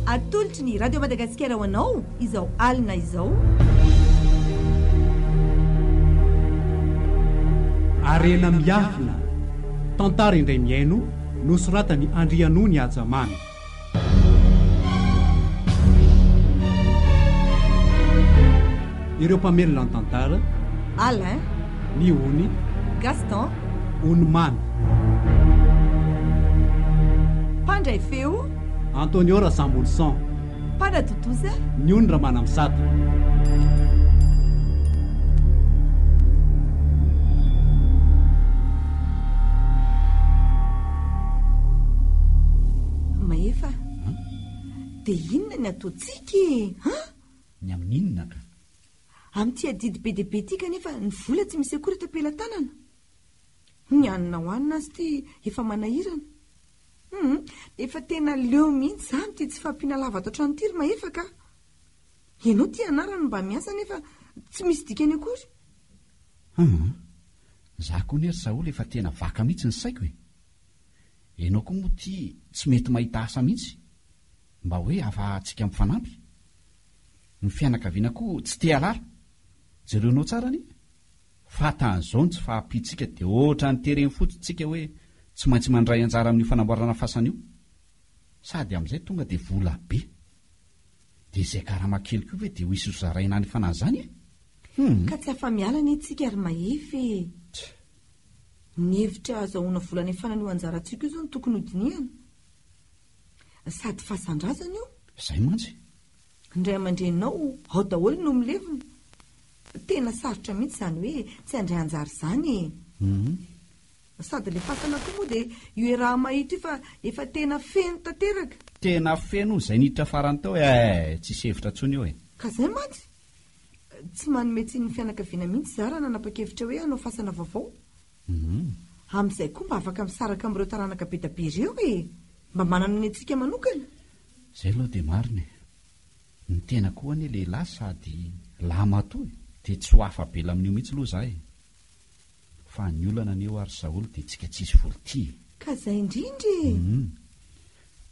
Atolotry ny Radio Madagasikara ho anao izao alina izao. Harena miafina. Tantara indray mihaino nosoratan'i Andrianony Hajaman. Ireo mpamelona ny tantara, Alain, ny ony, Gaston, ony mamy. Mpandray feo, Antonio Rasambolison. Mpanatontosa, Ny ony Ramanamisata. Mahefa, dia inona ny ataontsika e? An? Ny amin'ny inona ka? Amin'ity adidy be dia be ity kanefa ny vola tsy misy akory eto am-pelatanana. Ny hanina ho hanina azy ity efa manahirana. Hum, efa tena leo mihitsy izany ity tsy fahampiana lavaka hatrany ity ry Mahefa ka. Ianao ity anarany mba miasa nefa tsy misy dikany akory. Hum. Za koa anie ry Saholy efa tena vaka mihitsy ny saiko e. Ianao koa moa ity tsy mety mahita asa mihitsy mba hoe afahantsika mifanampy. Ny fianakaviana koa tsy te halara. Jereonao tsara anie fa tahan'izao ny tsy fahampiantsika dia ohatrany tereny fotsiny tsika hoe tsy maintsy mandray anjara amin'io fanamboarana fasana io. Sady amin'izay tonga dia vola be. Dia izay karama kely koa ve dia ho hisy ho zaraina any fanahy izany e? Hum. Ka tsy afa-miala anie tsika ry Mahefa e! Tch! Ny hevitra hazahoana vola any fanana io anjarantsika io izao no tokony ho dinihana. Sady fasan-drazana io. Izay mantsy. Ny ray aman-dreninao ao daholo no milevina. Tena sarotra mihitsy izany hoe tsy handray anjara izany e! Hum. Sady le fasana koa moa dia io Eraha-mahita io fa efa tena feno tanteraka. Tena feno hono izay niditra farany tao e eh, tsisy hevitra tsony eo e. Ka zay mantsy, tsy manome tsiny ny fianakaviana mihitsy za raha nanapa-kevitra hoe hanao fasana vaovao. Amin'izay koa mba afaka misaraka amin'ireo taranaka be da be ireo e! Mba manana ny antsika manokana. Zay aloha dia marina e! Ny tena koa anie lehilahy sady lahy matoa e! Dia tsy ho afa-bela amin'io mihitsy aloha za e! fa ny olana anie ho'a ry Saholy dia tsika tsisy voly tia e! Ka zay indrindra e! Humm!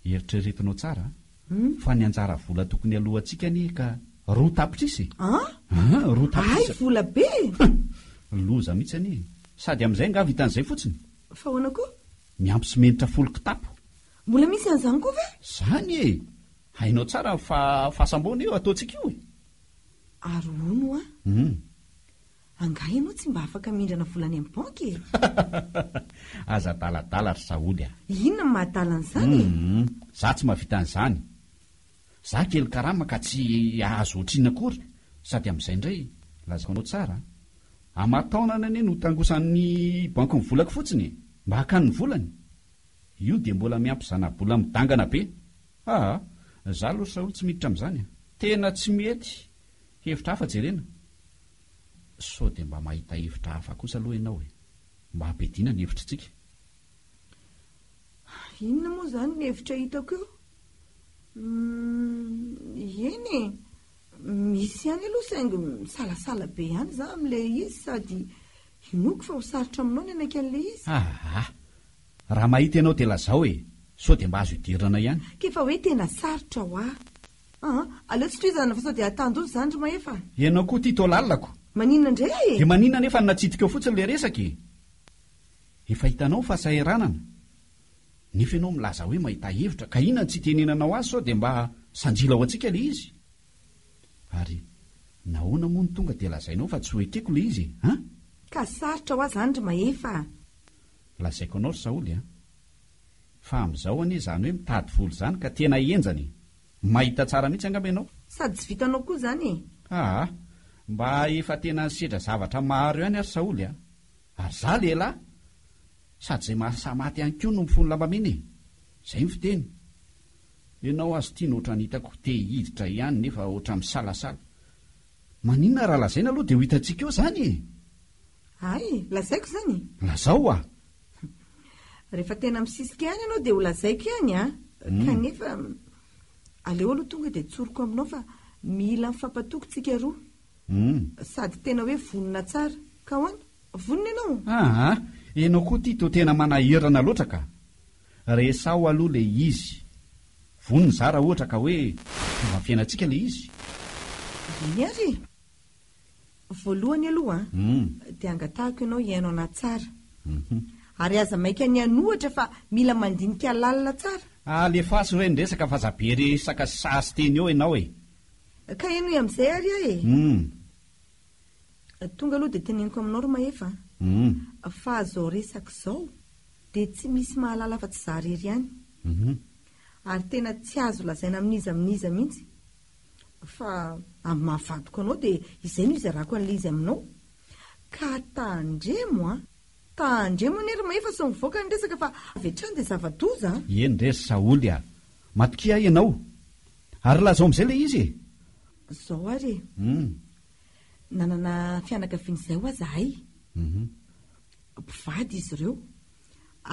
Eritreretinao tsara a! Fa ny anjara vola tokony alohantsika anie ka roa tapitrisa e! An! Roa tapitrisa! Hay vola be e! Humm! Loza mihitsy anie e! Sady amin'izay angaha vitan'izay fotsiny? Fa ahoana koa? Miampy simenitra folo kitapo! Mbola misy an'izany koa ve? Zany e! Hainao tsara fa fasamboana io ataontsika io e! Ary hono ho'a! Humm! Angaha ianao tsy mba afaka mindrana vola any amin'ny banky e? Aza adaladala ry Saholy a! Inona no mahadala an'izany e? Humm, za tsy mahavita an'izany. Za kely karama ka tsy azo ohatrinona akory sady amin'izay indray, lazako anao tsara a! Aman-taonany anie no tangosan'ny banky ny volako fotsiny e! Mba hakany ny volany? Io dia mbola miampy zana-bola midangana be! Aa! Za aloha ry Saholy tsy miditra amin'izany a! Tena tsy mety! Hevitra hafa jerena! Sao dia mba mahita hevitra hafa kosa aloha ianao e! Mba ampidina ny hevitritsika. Inona moa izany ny hevitra hitako eo? Hum, eny e! Misy ihany aloha saingy misalasala be ihany izaho amin'ilay izy sady inoako fa ho sarotra aminao ny hanaiky an'ilay izy. Aa! Raha mahita ianao dia lazao e! Sao dia mba azo idiranana ihany. K'efa hoe tena sarotra ho ahy. Aa! aleo tsy tohizana fa sao dia atandoha izany ry Mahefa a! Ianao koa ity toa lalako. Maninona indray aho e? Dia maninona nefa no natsidikao fotsiny ilay resaka e? Efa hitanao fa saheranana. Nefa ianao milaza hoe mahita hevitra, ka inona no tsy itenenanao ahy sao dia mba sanjila ho antsika ilay izy? Ary nahoana moa no tonga dia lazainao fa tsy ho ekeko ilay izy e? An! Ka sarotra ho ahy izany ry Mahefa a! Lazaiko anao ry Saholy a! Fa amzao anie izany hoe mitady vola izany ka tena henjana e! Mahita tsara mihitsy angamba ianao. Sady tsy vitanao koa izany e! Aa! Mba efa tena nisedra zavatra maro ihany ary Saholy a! Ary za lehilahy! Sady izay mahasahy maty ihany koa no mifono lambamena e! Izay ny fiteny! Ianao aza tiana ohatran'ny hitako te hiditra ihany nefa ohatran'ny misalasala! Maninona raha lazaina aloha dia ho hitantsika eo izany e! Hay, lazaiko izany e! Lazao hoa! Rehefa tena misisika ihany ianao dia ho lazaiko ihany an! Kanefa, aleo aloha tonga dia tsoriko aminao fa mila mifampatoky tsika roa. Sady tena hoe vonona tsara. Ka ahoana? Vonona ianao? Aa! Ianao koa ity toa tena manahirana loatra ka! Resaho aloha ilay izy. Vonona izaho raha ohatra ka hoe tonga amin'ny fiainantsika ilay izy. Eny ary e! Voalohany aloha dia angatahako ianao hihaino anah tsara. Ary aza maika ny hanohatra fa mila mandinika lalina tsara. Alefaso ireny resaka fa aza be resaka sy sazy teny eo ianao e! Ka henoy amin'izay ary aho e! Tonga aloha dia teneniko aminao ry Mahefa a! Fa izao resaka izao dia tsy misy mahalala afa-tsy izaho irery ihany. Ary tena tsy azo lazaina amin'iza amin'iza mihitsy. fa amin'ny maha vadiko anao dia izay no hizarako an'ilay izy aminao ka tandremo an! Tandremo anie ry Mahefa sy mivoaka ny resaka fa avy hatrany dia zava-doza an! Eny re ry Saholy a! Matokia ianao! Ary lazao amin'izay ilay izy e! Izao ary e! Hum! Nanana fianakaviana izay ho'a zahay. Hum! Mpivady izy ireo.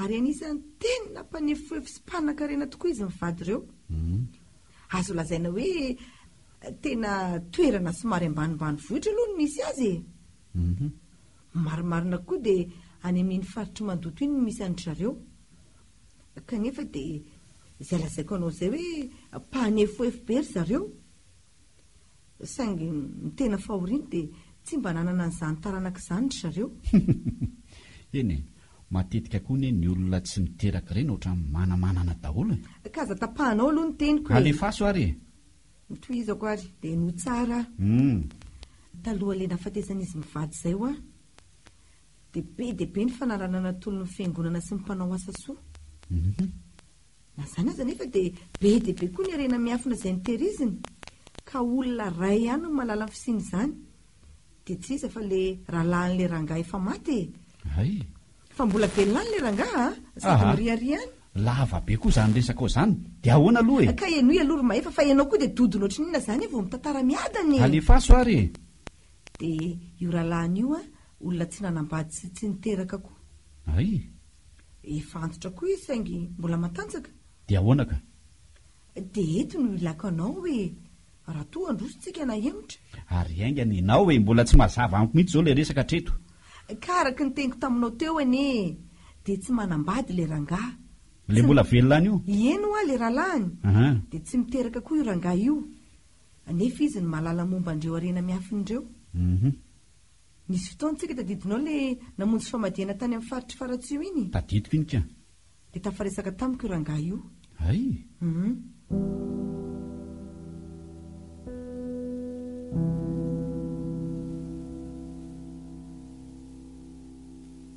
Ary anisan'ny tena mpanefoefo sy mpanankarena tokoa izy mivady ireo. Azo lazaina hoe tena toerana somary ambanimbanivohitra aloha no misy azy e. Mhm. Marimarina koa dia any amin'iny faritr'i Mandoto iny no misy an-dry zareo. Kanefa dia izay lazaiko anao izay hoe mpanefoefo be ry zareo. Saingy ny tena fahoriany dia tsy mba nanana an'izany taranaka izany ry zareo. Hum. Eny e, matetika koa anie ny olona tsy miteraka ireny ohatran'ny manamanana daholo e. Ka aza tapahanao aloha ny teniko e. Alefaso ary e. Notohizako ary dia no tsara aho. Hum. Taloha ilay nahafatesan'izy mivady izay hoa, dia be dia be ny fanarahanana tolon'ny fiangonana sy ny mpanao asa soa. Hum. Na izany aza anefa dia be dia be koa ny harena miafina izay notehiriziny ka olona iray ihany no mahalala ny fisian'izany dia tsy iza fa ilay rahalahin'ilay rangahy efa maty e! Hay! Fa mbola velona any ilay rangahy a! Sady miriaria any. Lava be koa izany resakao izany. Dia ahoana aloha e! Ka henoy aloha ry Mahefa fa ianao koa dia dodona ohatry ny inona izany e vao mitantara miadana e! Alefaso ary e! Dia io rahalahiny io a, olona tsy nanambady sy tsy niteraka koa. Hay! Efa antitra koa izy saingy mbola matanjaka. Dia ahoana ka? Dia eto no ilako anao hoe raha toa handroso tsika nahemotra. Ary haingana ianao e! Mbola tsy mazava amiko mihitsy izao ilay resaka hatreto. Ka araka ny teniko taminao teo anie dia tsy manambady ilay rangahy. Ilay mbola velona any io? Eny hoa ilay rahalahiny. Aha. Dia tsy miteraka koa io rangahy io. Nefa izy no mahalala momba an'ireo harena miafina ireo. Uhum. Nisy fotoana tsika tadidinao le namonjy famadihana tany amin'ny faritry Faratsiho iny? Tadidiko iny ka. Dia tafaresaka tamiko io rangahy io. Hay! Humm.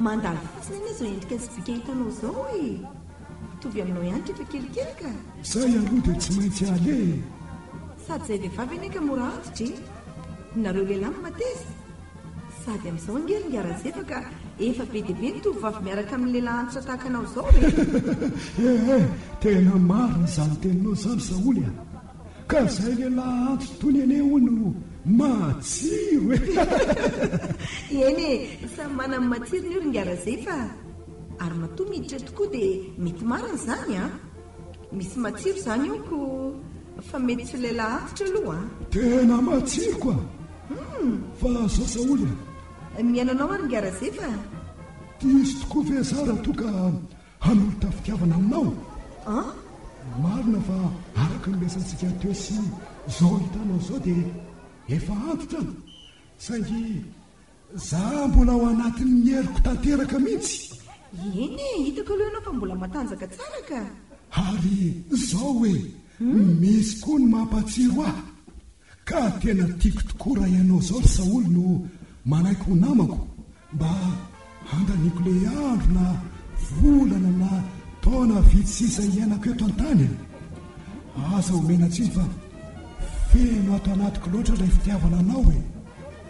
Mandalo fotsiny anie izao endrika sobika hitanao izao e! Mitovy aminao ihany rehefa kelikely ka! Izay aloha dia tsy maintsy aleha e! Sady izay vehivavy anie ka mora antitra e! Nareo lehilahy no mateza! Sady amin'izao ange ry Ngarazeva ka efa be dia be ny tovovavy miaraka amin'ny lehilahy antitra tahaka anao izao e! Eeh! Tena marina izany teninao izany Saholy a! Ka zay lelah antso toy ny anie hono no matsiro e! Eny e, samy manana ny matsirony io ry Ngarazay fa ary matoa miditra eto koa dia mety marina izany an! Misy matsiro izany eo ko fa mety tsy ho lelah antitra aloha an! Tena matsiro ko an! Fa sao saoly an! Mihaino anao aho ry Ngarazay fa. Diso tokoa ve za raha toa ka Hanolotra fitiavana aminao an! Marina fa araka ny resahantsika teo sy izao hitanao izao dia efa antitra an! Saingy za mbola ao anatin'ny heriko tanteraka mihitsy! Eny e, hitako aloha ianao fa mbola matanjaka tsara ka! Ary izao hoe, misy koa ny mampatsiro ahy! Ka tena tiako tokoa raha ianao zao ry Saholy no manaiky ho namako mba handaniako le andro na volana na taona vitsy sisa hiainako eto an-tany a! Aza omena tsiny fa feno ato anatiko loatra ilay fitiavana anao e!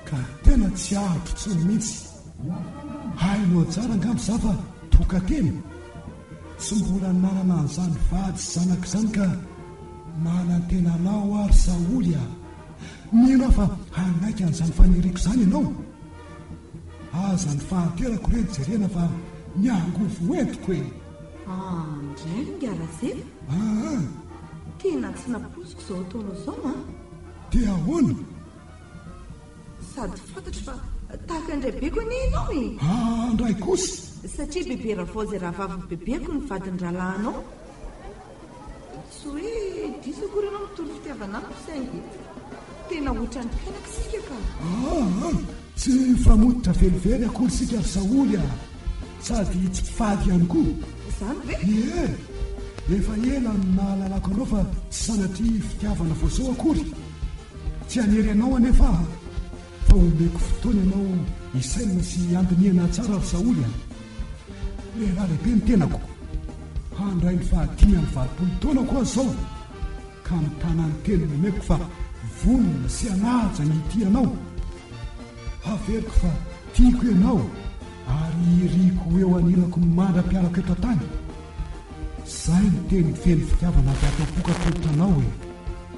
Ka tena tsy ahariko intsony mintsy. Hainao tsara angamba za fa toka-tena. Tsy mbola nanana an'izany vady sy zanaka izany ka manantena anao aho ry Saholy a! Mino aho fa hanaiky an'izany faniriako izany ianao. Aza ny fahanterako re no jerena fa ny angovo ho entiko e! Ah, indray ingahy Razela? Aa! Tena tsy nampoiziko izao ataonao izao an! Dia ahoana? Sady fantatro fa tahaka ny raibeko anie ianao e! Haa ndray kosa! Satria bebe ravaozy rahavavin'ny bebeko ny vadin'ny rahalahinao. Tsy hoe diso akory ianao mitory fitiavana amiko saingy tena hoatran'ny mpianaka isika ka! Haa! Tsy mifamototra velively akory isika ry Saholy a! Sady tsy mpivady ihany koa. Izany ve? Ie! Efa ela no nahalalako anao fa tsy sanatria fitiavana vao zao akory. Tsy hanery anao anefa aho, fa homeko fotoana ianao hisainana sy handinihana hatsara ry Saoly a! Lehilahy lehibe ny tenako, handray ny fahadimy amby valopolo taonako aho izao, ka mitana ny teniny omeko fa vonona sy hanaja ny hitia anao. Haveriko fa tiako ianao ary iriko ho eo anilako mandra-pialako eto an-tany. Izay ny teniny feno fitiavana avy ato am-poko atolotra anao e!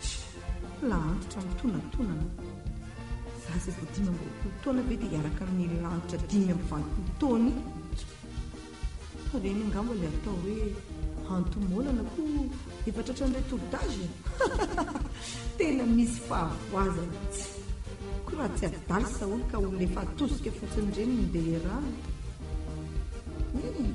Tchoo! Antitra mitonantonana. Za izay vao dimy amby roapolo taona ve dia hiaraka amin'ny lanitra dimy amby valopolo taony? Tchoo! Ireny angamba ilay atao hoe antomoanana koa efa tratran'ireo tour d'âge e! Tena misy fahavoazana. Tchoo! Koa raha tsy adala saholy ka olona efa atosika fotsiny ireny no ndeha iarahana? Eny e!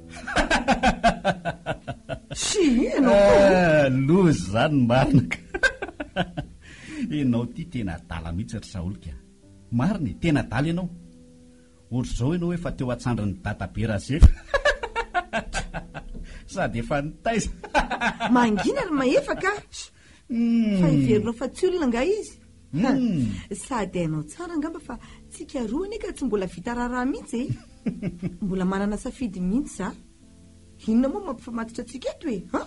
Schiii ianao koa an! Ah, loza izany ny marina ka! Ianao ity tena adala mihitsy ry Saolika a! Marina e, tena adala ianao! Ohatr'izao ianao efa teo an-tsandrin'i Dadabe Razefa sady efa nitaiza! Mangina ry Mahefa ka! Schiii! Fa heverinao fa tsy olona angaha izy? Ha, sady hainao tsara angamba fa tsika roa anie ka tsy mbola vita raharaha mihitsy e! Mbola manana safidy mihitsy za. Inona moa no mampifamatotra antsika eto e? Ha?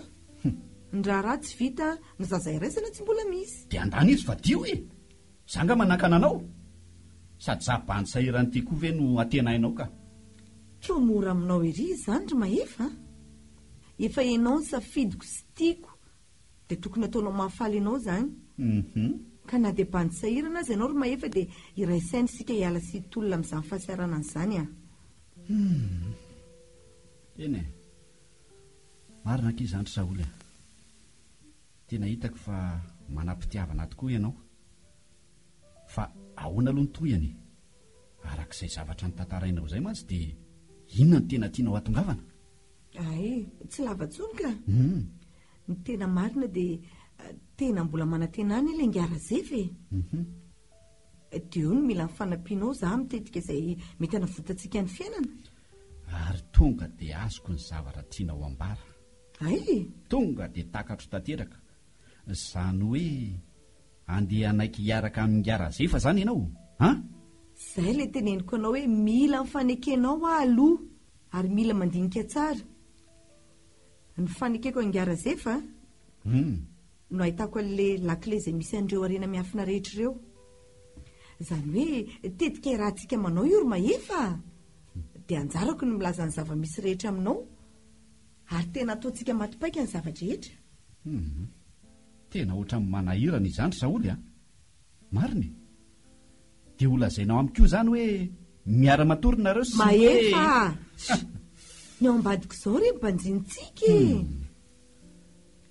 Ny raharaha tsy vita, ny zaza iraisana tsy mbola misy. Dia andany izy fa dio e! Za angaha manakana anao? Sady za bandy sahiran'ity koa ve no antenainao ka? Koa mora aminao ery izany ry Mahefa a! Efa hainao ny safidiko sy tiako Dia tokony ataonao mahafaly anao izany. Uhum. Ka na dia bandy sahirana aza ianao ry Mahefa dia iray saina isika hiala sy hitolona amin'izany fahasiaranana izany an! Hum. Eny e! Marina akia izany ry Saholy a! Tena hitako fa manam-pitiavana tokoa ianao. Fa ahoana aloha ny tohiny e? Araka izay zavatra notantarainao izay mantsy dia inona no tena tianao hatongavana? Ay, tsy lava tsony ka. Hum. Ny tena marina dia tena mbola manantena any ilay Ngyarazef e. Hum. Dia eo no mila ny fanampianao za amin'ny tetika izay mety hanavotantsika ny fiainana. Ary tonga dia azoko ny zavatra tianao ambara. Ay? Tonga dia takatro tanteraka. Izany hoe andeha hanaiky hiaraka amin'i Ngyarazef izany ianao? An? Izay ilay teneniko anao hoe mila ny fanekenao aho aloha. Ary mila mandinika tsara ny fanekeko an'i Ngah Razefa no ahitako an'ilay lakile izay misy an'ireo harena miafina rehetra ireo. Izany hoe tetika iarahantsika manao io ry Mahefa a! Dia anjarako ny milaza ny zava-misy rehetra aminao ary tena ataontsika maty paika ny zava-drehetra. Tena ohatran'ny manahirana izany Saholy a! Marina e! Dia ho lazainao amiko io izany hoe miara matory nareo sy hoe. Mahefa a! Shh! Ny ao ambadiko izao re ny banjinitsika e!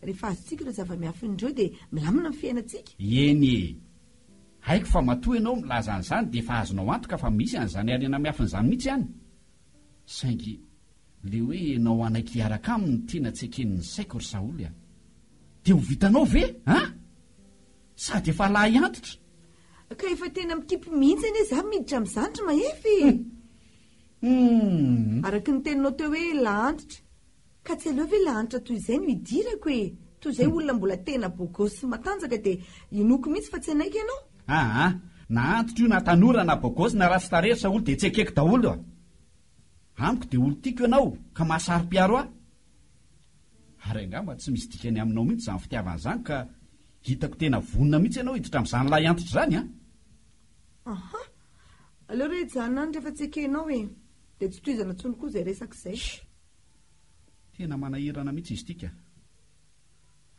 Rehefa azontsika ireo zava-miafina ireo dia milamina ny fiainantsika. Eny e! Haiko fa matoa ianao milaza an'izany dia efa azonao antoka fa misy an'izany harena miafina izany mihitsy any. Saingy ilay hoe ianao hanaiky hiaraka aminy no tena tsy eken'ny saiko ry Saholy a! Dia ho vitanao ve an! Sady efa lahy antitra. Ka efa tena mikipy mihitsy anie za miditra amin'izany ry Mahefy e! Hum. Araka ny teninao teo hoe lahantitra, ka tsy aleo ve lahanitra toy izay no idirako e! Toy izay olona mbola tena beau gosse sy matanjaka dia inoako mihitsy fa tsy hanaiky ianao. Aa, na antitra io na tanora na beau gosse na ratsy tarehy ry Saholy dia tsy ekeko daholo a! Amiko dia olon-tiako ianao ka mahasaropiaro ahy. Ary angamba tsy misy dikany aminao mihitsy izany fitiavana izany ka hitako tena vonona mihitsy ianao hiditra amin'izany lahiantitra izany an! Aha! Aleo re hijanona any rehefa tsy ekenao e! Dia tsy tohizana intsony koa izay resaka izay. Shh! Tena manahirana mihitsy izy ity ka!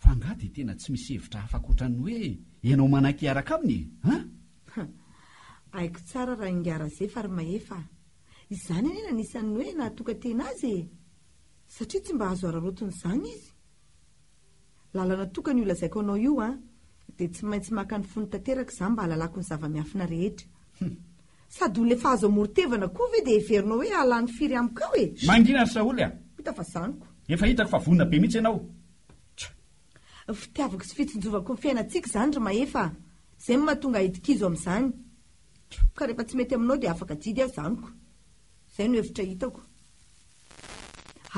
Fa angaha dia tena tsy misy hevitra hafa ankoatra ny hoe ianao manaiky hiaraka aminy e! An! Haiko tsara raha ingahy Razefy ary Mahefa a! Izany anie no anisan'ny hoe nahatokan-tena azy e! Satria tsy mba azo araraotina izany izy. Lalana tokana io lazaiko anao io an! Dia tsy maintsy maka ny fony tanteraka izaho mba hahalalako ny zava-miafina rehetra. Hum! Sady olona efa azo amoron-tevana koa ve dia heverinao hoe hahalany firy amiko ao e! Mangina ry Saholy a! Hita fa zaniko. Efa hitako fa vonona be mihitsy ianao. Tch! Fitiavako sy fitsinjovako ny fiainantsika izany ry Mahefa a! Izay no mahatonga ahy dikizo amin'izany. Tch! Ka rehefa tsy mety aminao dia afaka adidy aho zaniko. Izay no hevitra hitako.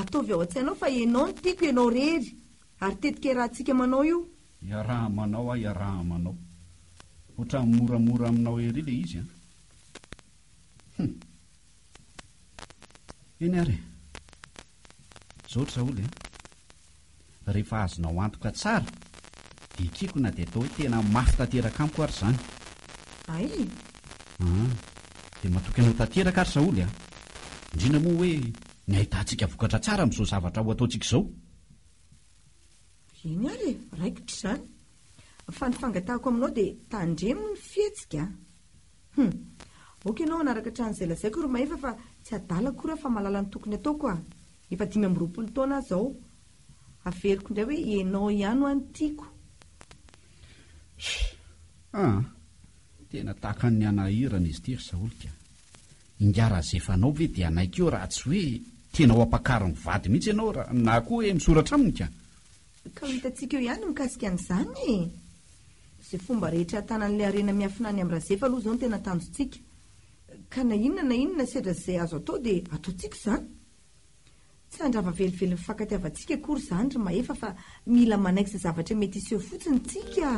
Ataovy ao an-tsainao fa ianao no tiako, ianao irery, ary tetika iarahantsika manao io. Iaraha manao aho iaraha manao. Ohatran'ny moramora aminao ery ilay izy an! Hum! Eny ary e! Zao ry Saoly an! Rehefa azonao antoka tsara, dia ekeko na dia atao hoe tena mafy tanteraka amiko ary izany. Hay! Aa! Dia matoky anao tanteraka aho ry Saoly an! Indrindra moa hoe ny ahitantsika vokatra tsara amin'izao zavatra ho ataontsika izao. Eny ary e! Raikitra izany! Fa ny fangatahako aminao dia tandremo ny fihetsika an! Hum. Ok enao hanaraka hatrany izay lazaiko ry Mahefa fa tsy adala akory aho fa mahalala ny tokony ataoko a! Efa dimy amby roapolo taona aho izao. Averiko indray hoe enao ihany hoa no tiako. Hum. Aa. Tena tahaka ny hanahirana izy ity ry Saholik a! Ingahy Razefanao ve dia hanaiky eo raha tsy hoe tena ho ampakariny vady mihitsy ianao ra na koa hoe misoratra aminy ka! Ka ho hitantsika eo ihany ny mikasika an'izany e! Izay fomba rehetra hatanan'ilay harena miafina any amin'i Razefa aloha izao no tena tanjontsika. Ka na inona na inona sedra izay azo atao dia ataontsika izany. Tsy handrava velively ny fankatiavantsika akory izany ry Mahefa fa mila manaikitra zavatra mety hiseho fotsiny isika a!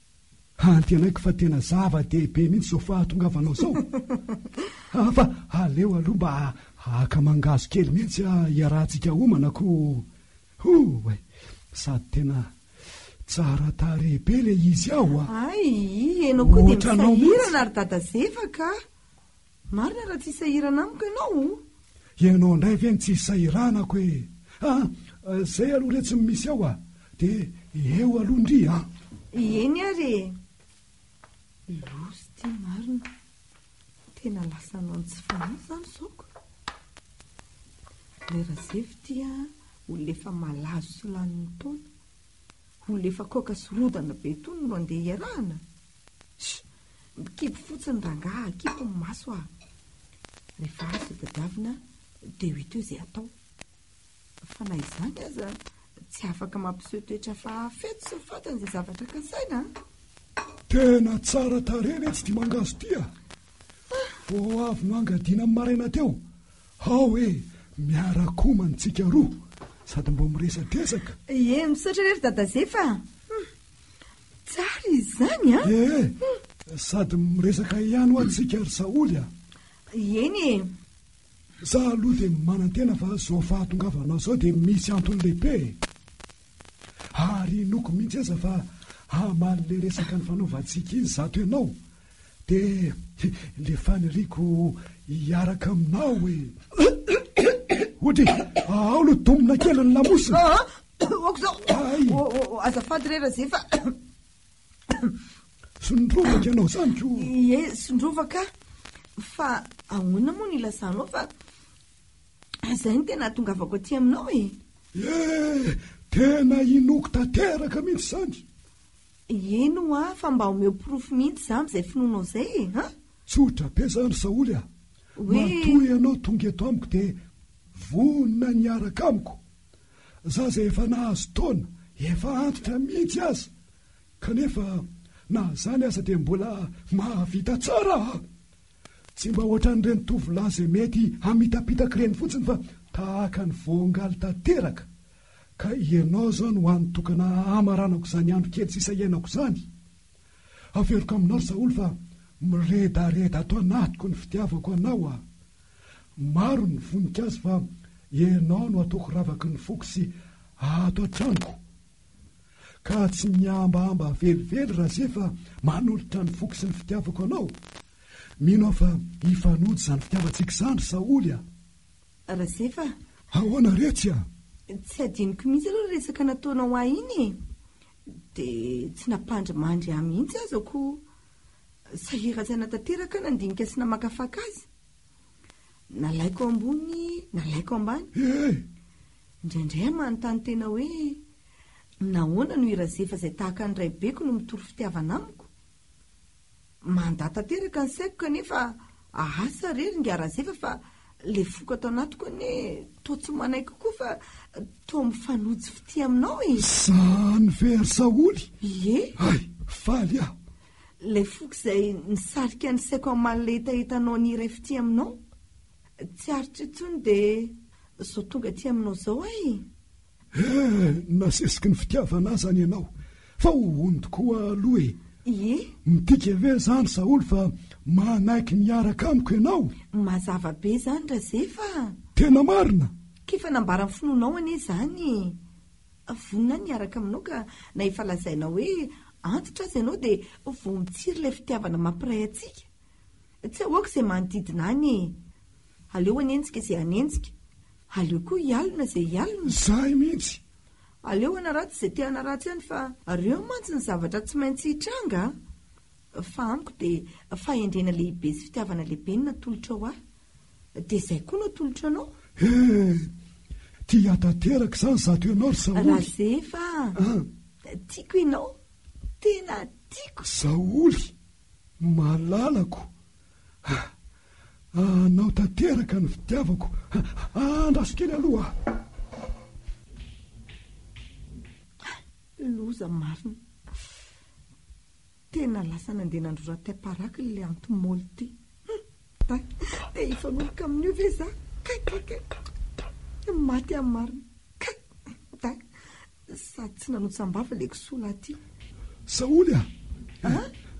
Antenaiko fa tena zava-dehibe mihitsy izao fahatongavanao izao. Fa aleo aloha mba haka mangahazo kely mihitsy hiarahantsika homana koa. Hoo e! Sady tena tsara tarehy be ilay izy ao a! Ay, ianao koa dia misahirana ry Dada Zefa ka! Marina raha tsy hisahirana amiko ianao o. Ianao indray ve no tsy isahiranako e! A! Zay aloha re tsy misy ao a! De eo aloha ndry a! Eny ary e! Loza ity marina. Tena lasa hanao ny tsy fanahy izany izao ko. Ilay Razefy ity a, olona efa malazo sy lanin'ny taona. Olona efa kaoka sy rodana be itony no andeha hiarahana? Sh! Mikipy fotsiny rangah a, kipy ny maso a! Rehefa azo tadiavina dia ho hita eo izay hatao. Fa na izany aza, tsy afaka mampiseho toetra hafa feno sy fantany izay zavatra kasaina a! Tena tsara tarehy ve tsy ity mangahazo ity a! Vao avy noangadiana ny maraina teo, hao e! Miara-komana isika roa sady mba miresadresaka. Ie, misaotra re ry Dada Zefa a! Tsara izany a! E, sady miresaka ihany ho antsika ry Saholy a! Eny e! Za aloha dia manantena fa zao fahatongavanao zao dia misy antony lehibe e! Ary inoako mihitsy aza fa hamaly le resaka nifanaovantsika iny zato ianao dia le faniriako hiaraka aminao e! Hody, aolo domina kely ny lamosina! Aoka izao. Ay. Oh, oh, oh, azafady re Razefa. Sondrovaka ianao izany ko. Ie, sondrovaka. Fa ahoana moa ny ilazanao fa izay no tena atongavako aty aminao e. Eh, tena inoko tanteraka mihitsy izany. Eny hoa, fa mba omeo porofo mihitsy izany izay finoanao izay e, ha? Tsotra be izany Saoly a. Hoe- Matoa ianao tonga eto amiko dia vonona ny hiaraka amiko. za zay efa nahazo taona efa antitra mihitsy aza kanefa na zany aza dia mbola mahavita tsara aho, tsy mba ohatran'ireny tovolahy zay mety hamitapitaky ireny fotsiny fa tahaka ny voangaly tanteraka ka ianao zao no anotokana hamaranako zany andro kely sisa iainako zany. Averiko aminao Saoly fa miredareda ato anatiko ny fitiavako anao a! Maro ny voninkazo fa ianao no ataoko ravaky ny foko sy ato an-tranoko. Ka tsy mihambahamba velively Razé fa manolotra ny foko sy ny fitiavako anao. Mino aho fa hifanojo izany fitiavantsika izany ry Saoly a! Razé fa. Ahoana re tsy a? Tsy hadinoko mihitsy aloha ny resaka nataonao ahy iny e! Dia tsy nampandry mandry ahy mihitsy aza koa sahirantsaina tanteraka aho nandinika sy namakafaka azy. Nalaiko ambony, nalaiko ambany. Indraindray aho manontany tena hoe, Nahoana no i Razefa izay tahaka ny raibeko no mitory fitiavana amiko? Mandà tanteraka ny saiko kanefa asa re ry Ngarazefa fa le foko ato anatiko anie toa tsy manaiky koa fa toa mifanojo fitia aminao e. Zany ve ry Saholy? Ie. Hay, faly aho. Ilay foko izay nisarika ny saiko hamalina hetahetanao ny iray fitia aminao. Tsy aritra intsony dia zao tonga aty aminao zao aho e. Eh! Nasesiky ny fitiavana ahy zany ianao fa ho hondy koa aloha e! Ie! Midika ve zany Saholy fa manaiky ny hiaraka amiko ianao? Mazava be zany Razefa a! Tena marina? K'efa nambara ny finoanao anie izany e! Vonona aho ny hiaraka aminao ka na efa lazainao hoe antitra aza ianao dia vao mitsiry ilay fitiavana mampiray antsika. Tsy ahoako izay manodidina any e! Aleo hanenjika izay hanenjika. Aleo koa hialona izay hialona. Izahay mihitsy! Aleo hanaratsy izay te hanaratsy any fa reo mantsy ny zavatra tsy maintsy hitranga a! Fa amiko dia fahendrena lehibe sy fitiavana lehibe no natolotrao ahy. Dia izay koa no atolotro anao. He! Tia tanteraka izany zato ianao ry Saholy! Razefa a! Tiako ianao! Tena tiako! Saholy! Malalako ah ah anao tanteraka no fitiavako ah ah andraso kely aloha ah. Loza marina. Tena lasa nandeha nandrora tep araky ilay anti-moly ity. Hum, te hifanoroka amin'io ve za? Kay, kay, kay. Maty aho marina. Kay, da. Sady tsy nanotsam-bava le kisoa lahy ty. Saholy a!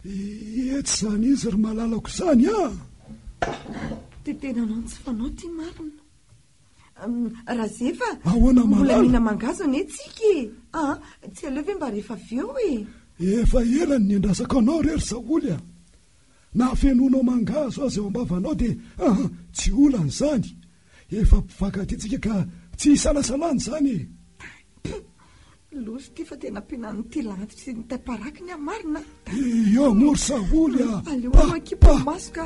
Etsy izany izy ry malalako izany a! Dia tena anao tsy fanao ty marina. Razefa, mbola mihina mangahazo anie tsika e! Aa! Tsy aleo ve mba rehefa avy eo e! Efa ela no niandrasako anao re ry Saholy a! Na hafenoinao mangahazo aza eo am-bavanao dia aa tsy olana izany. Efa mpifankatia tsika ka tsy isalasalana izany e! Ay! Loza ity fa tena ampianan'ity landy sy ny taiparaky ny ahy marina a! Iioo mor saholy a! Aleo aloha akimpy ny maso ka!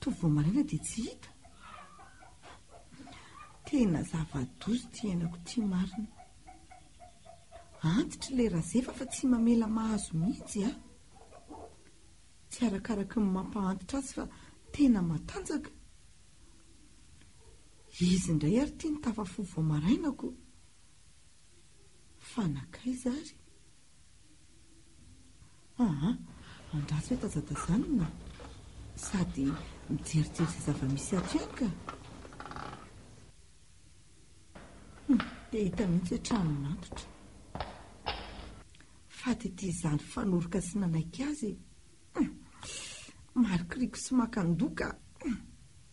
Toa vao maraina dia tsy hita. Tena zava-doza ity henako ity marina. Antitra ilay Razefa fa tsy mamela mahazo mihitsy a! Tsy arakaraky ny mampahantitra azy fa tena matanjaka. Izy indray ary ity no tafafo vao marainako. Fa nankaiza ary? Aa! Andraso eto aza tazanina sady mijerijery izay zava-misy ato ihany ka! Hum! Dia hita mihitsy hoe trano matotra. Faty ity izany fanoroka sy nanaiky azy e! Hum! Marikiriko sy makan-doha ka! Hum!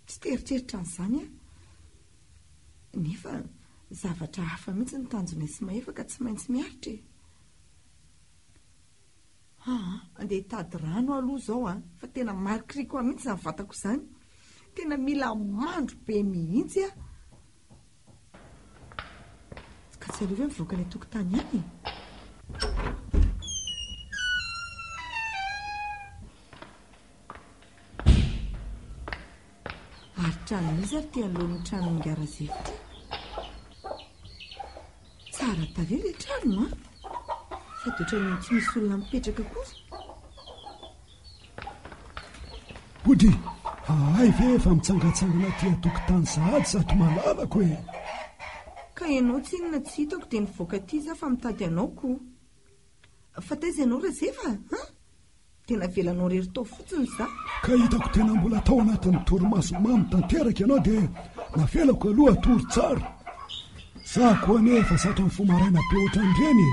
Tsy te-heritreritra an'izany aho. Nefa zavatra hafa mihitsy ny tanjonay sy Mahefa ka tsy maintsy miaritra e! Haa andeha hitady rano aho aloha izao an, fa tena marikiriko ahy mihitsy izany vatako izany, tena mila mandro be mihitsy aho. Ka tsy aleo ve mivoaka any an-tokotany any e? Ary trano iza ary ty anoloan'ny tranon'i Garazefo ty? Tsara tarehy ilay trano an! Sady ohatran'ny tsy misy olona mipetraka kosa. Hody, hahay ve efa mitsangatsangana aty an-tokotany sahady zato malalako e! Ka ianao tsinona tsy hitako dia nivoaka aty za fa mitady anao ko! Fa taiza ianao Razefa a? Dia navelanao irery tao fotsiny za. Ka hitako tena mbola tao anatin'ny torimaso mamy tanteraka ianao dia navelako aloha hatory tsara. Za koa anie efa zatra mifoha maraina be ohatran'ireny e!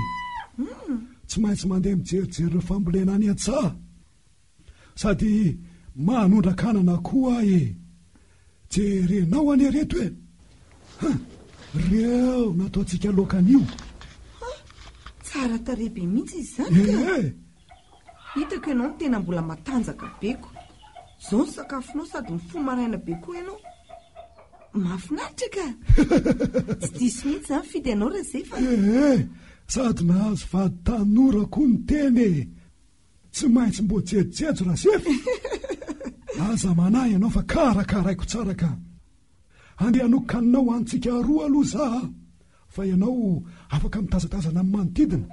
Tsy maintsy mandeha mijerijery ireo fambolena any an-tsaha. sady manondrak'anana koa e! Jerenao anie reto e! Huh! Reo nataontsika loaka anio! Huh! Tsara tarehy be mihitsy izy zany ka! Eh eh! Hitako ianao tena mbola matanjaka be ko! Zao ny sakafonao sady mifoha maraina be koa ianao! Mahafinaritra ka! Tsy diso mihitsy zany fidy anao Razefa! Eh eh! Sady nahazo vady tanora koa ny tena e! Tsy maintsy mbo jejjejo Rasefa e! Aza manahy ianao fa karakaraiko tsara ka! Andeha hanokoka anao ho antsika roa aloha za a! Fa ianao afaka mitazatazana amin'ny manodidina.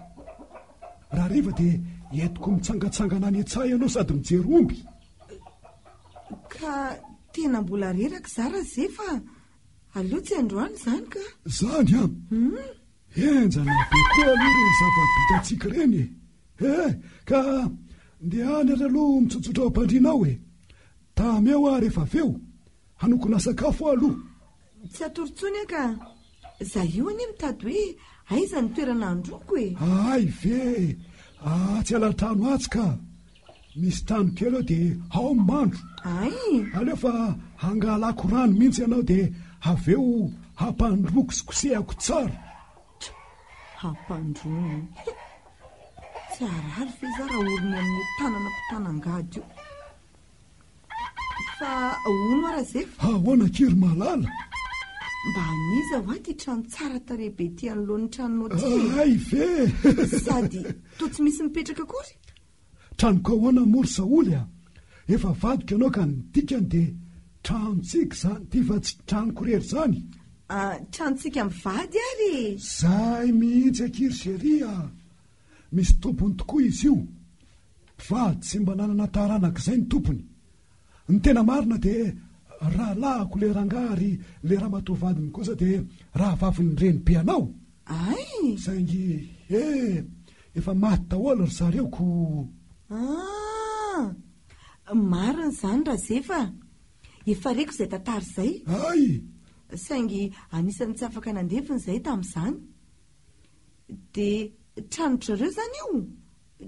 Raha hariva dia entiko mitsangatsangana any an-tsaha ianao sady mijery omby. Ka tena mbola reraka za Rasefa a! Aleo tsy androany izany ka! Izany an! Henjana be koa aloha ireny zava-bitantsika ireny e! He! Ka ndehany ary aloha mitsotsotra ao am-pandriana ao e! Tamy eo aho rehefa avy eo, hanokona sakafo aho aloha. Tsy hatory intsony aho ka! Izaho io anie mitady hoe aiza ny toerana handroako e! Ahay ve e! Atsy ala-trano atsy ka! Misy trano kely eo dia ao ny mandro. Ay! Aleo fa hangalako rano mihitsy ianao dia avy eo hampandroako sy kosehako tsara. Hampandroany. Tsy harary ve za raha orony amin'ny tanana mpitanangady io? Fa hono ara zefa? Ahoana kiry malala? Mba aniza ho aty trano tsara tarehy be ty anoloan'ny tranonao ty? Ay ve? Sady toa tsy misy mipetraka akory? Tranoko ahoana moa ry Saholy a! Efa vadiko ianao ka ny dikany dia tranontsika izany ty fa tsy tranoko irery izany e! Ah, tranontsika mivady ary e! Izay mihitsy akia ry Chérie a! Misy tompony tokoa izy io. Mpivady tsy mba nanana taranaka izay ny tompony. Ny tena marina dia rahalahiko le rangahy ary le ramatoa vadiny kosa dia rahavavin'ny renibe anao. Ay! Saingy he! Efa maty daholo ry zareo ko! Ah! Marina izany Razefa a! Efa reko izay tantara izay. Ay! Saingy anisan'ny tsy afaka nandevina izahay tamin'izany. Dia trano-dry zareo izany io?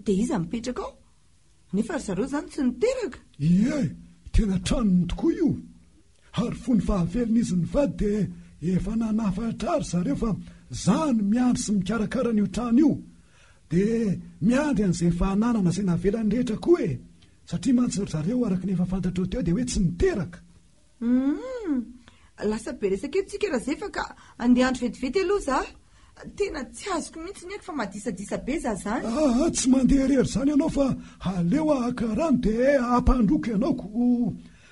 Dia iza mipetraka ao? Nefa ry zareo izany tsy niteraka? Ie, tena tranony tokoa io. Ary fony fahavelon'izy nivady dia efa nanafatra ry zareo fa za no miandry sy mikarakara an'io trano io. Dia miandry an'izay efa ananana izay navelany rehetra koa e! Satria mantsy ry zareo araka ny efa fantatrao teo dia hoe tsy niteraka. Humm! Lasa be resaka eto tsika Razefa ka andeha andro vetivety aloha za. Tena tsy azoko mihitsy ny aiko fa madisadisa be za zany. Aa tsy mandeha irery zany ianao fa aleo haka rano de hampandroako ianao ko.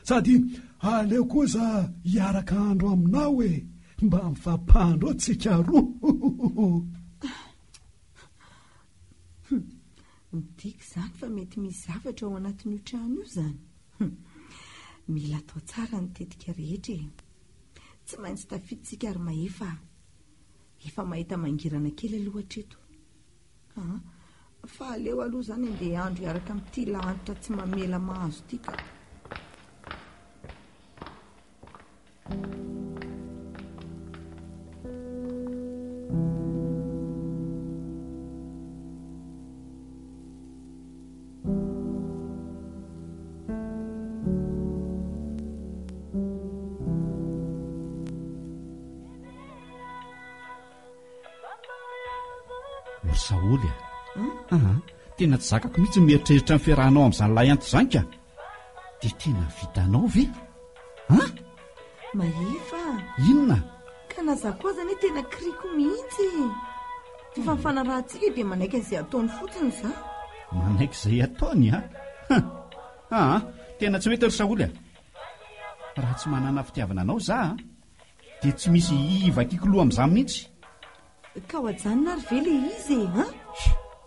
Sady aleo koa za hiaraka andro aminao e, mba mifampandro tsika roa. Humm. Midika izany fa mety misy zavatra ao anatin'io trano io izany. Hum. Mila atao tsara ny tetika rehetra e. Tsy maintsy tafidintsika ry Mahefa a. Efa mahita mangirana kely aloha hatreto. Ah, fa aleo aloha izany andeha handro hiaraka amin'ity lahanitra tsy mamela mahazo ity ka. Saholy a, tena tsy zakako mihitsy ny mieritreritra ny fiarahanao amin'izany lahianty izany ka. Dia tena vitanao ve? An? Mahefa a! Inona? Ka na za koa aza anie tena kiriko mihitsy e! Fa ny fanarahantsika dia manaiky an'izay ataony fotsiny za. Manaiky izay ataony a? Han! Aa! Tena tsy mety ry Saholy a! Raha tsy manana fitiavana anao za a! Dia tsy misy hivakiako loha amin'izany mihitsy! Ka ho ajanona ary ve ilay izy e? An?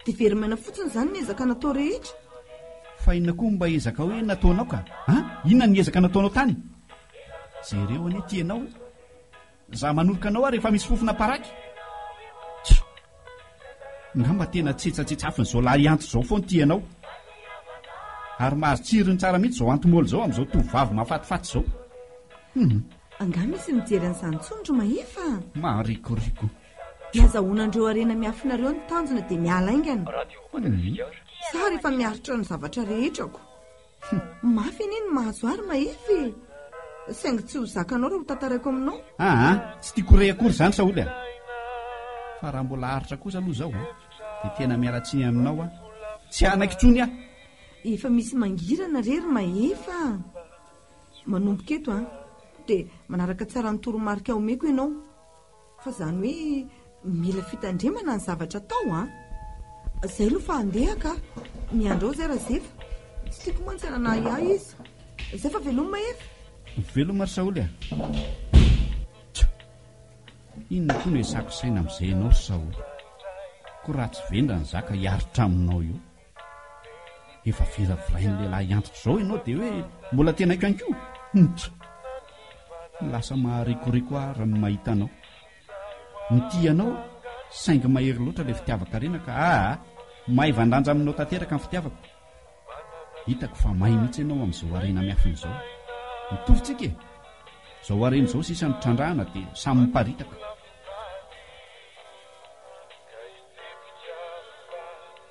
Dia very maina fotsiny izany ny ezaka natao rehetra. Fa inona koa mba ezaka hoe nataonao ka? An? Inona ny ezaka nataonao tany? Jereo anie ity ianao e! Za manoroka anao ary efa misy fofona paraky. Tch! Ngamba tena tsetsatsetsafin'izao lahianto izao foana ity ianao. Ary mahazo tsirony tsara mihitsy izao antimôly izao amin'izao tovovavy mahafatifaty izao. Hum! Angaha misy mijery an'izany intsony ry Mahefa a! Maharikoriko. Dia azahoana an'ireo harena miafina ireo ny tanjona dia miala haingana. Za ary efa miaritra ny zavatra rehetrako. Mafy anie ny mahazo ahy ry Mahefa e! Saingy tsy ho zakanao raha hotantaraiko aminao. Aa! Tsy tiako ho re akory izany Saholy a! Fa raha mbola aritra kosa aloha izao a! Dia tena miala tsiny aminao aho. Tsy hanaiky intsony aho. Efa misy mangirana re ry Mahefa a! Manomboka eto an, dia manaraka tsara ny toromarika omeko ianao, fa izany hoe mila fitandremana ny zavatra atao an! Izay aloha fa handeha kah! Miandry ao izay Razefa, tsy tiako mantsy hanana ahiahy izy. Izay fa veloma Mahefa! Veloma ry Saholy a! Tcha! Inona koa no ezahako saina amin'izay ianao ry Saholy? Koa raha tsy vendrana za ka hiaritra aminao eo? Efa viravirain'ny lehilahy antitra izao ianao dia hoe mbola tenaiko ihany koa? Humph! Lasa maharikoriko aho raha ny mahita anao. Mitia anao aho, saingy mahery loatra ilay fitiavan-karena ka aa! Maivan-danja aminao tanteraka ny fitiavako. Hitako fa may mihitsy ianao amin'izao harena miafina izao. Mitovy tsika e! Izao harena izao sisa no trandrahana dia samy miparitaka.